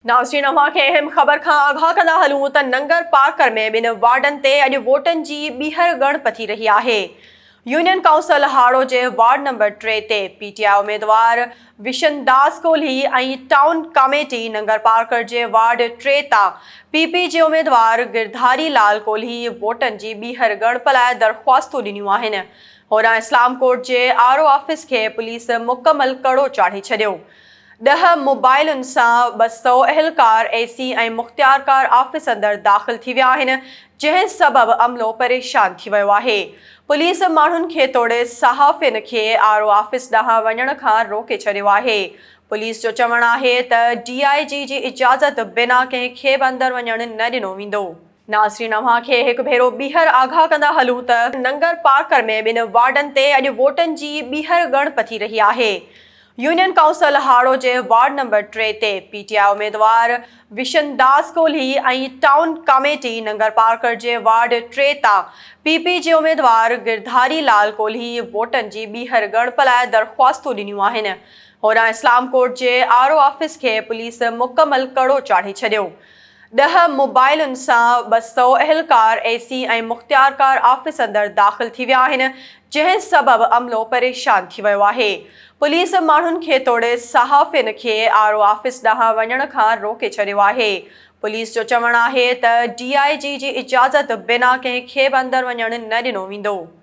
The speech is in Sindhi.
ناظرين اوهان کي اهم خبر کان آگاهه ڪندا هلون ته ننگر پارڪر ۾ ٻن وارڊن تي اڄ ووٽن جي ٻيهر ڳڻپ ٿي رهي آهي يونين ڪائونسل هاڙو جي وارڊ نمبر ٽي تي پي ٽي آء اميدوار وشن داس ڪولهي ۽ ٽائون ڪاميٽي ننگر پارڪر جي وارڊ ٽي تان پي پي جي اميدوار گرڌاري لال ڪولهي ووٽن جي ٻيهر ڳڻپ لاء درخواستون ڏنيون آهن هوڏانهن اسلام ڪوٽ جي آر او آفيس کي پوليس مڪمل ڪڙو چاڙهي ڇڏيو ڏهه موبائلن سان ٻه سؤ اهلڪار، اي سي ۽ مختيارڪار آفيس اندر داخل ٿي ويا آهن، جنهن سبب عملو پريشان ٿي ويو آهي. پوليس ماڻهن کي توڙي صحافين کي آر او آفيس ڏانهن وڃڻ کان روڪي ڇڏيو آهي. پوليس جو چوڻ آهي ته ڊي آء جي جي اجازت بنا ڪنهن کي به اندر وڃڻ نه ڏنو ويندو. ناظرين اوهان کي هڪ ڀيرو ٻيهر آگاهه ڪندا هلون ته ننگر پارڪر ۾ ٻن وارڊن تي اڄ ووٽن جي ٻيهر ڳڻ پٿي رهي آهي يونين ڪائونسل هاڙهو جي وارڊ نمبر ٽي تي پي ٽي آء اميدوار وشن داس ڪولهي ۽ ٽائون ڪاميٽي ننگر پارڪر جي وارڊ ٽي تان پي پي جي اميدوار گرڌاري لال ڪولهي ووٽن جي ٻيهر ڳڻپ لاء درخواستون ڏنيون آهن هوڏانهن اسلام ڪوٽ جي آر او آفيس کي پوليس مڪمل ڪڙو چاڙهي ڇڏيو ڏهه موبائلن سان ٻه سؤ اهلڪار، اي سي ۽ مختيارڪار آفيس اندر داخل ٿي ويا آهن، جنهن سبب عملو پريشان ٿي ويو آهي. پوليس ماڻهن کي توڙي صحافين کي آر او آفيس ڏانهن وڃڻ کان روڪي ڇڏيو آهي. پوليس جو چوڻ آهي ته ڊي آء جي جي اجازت بنا ڪنهن کي به اندر وڃڻ نه ڏنو ويندو.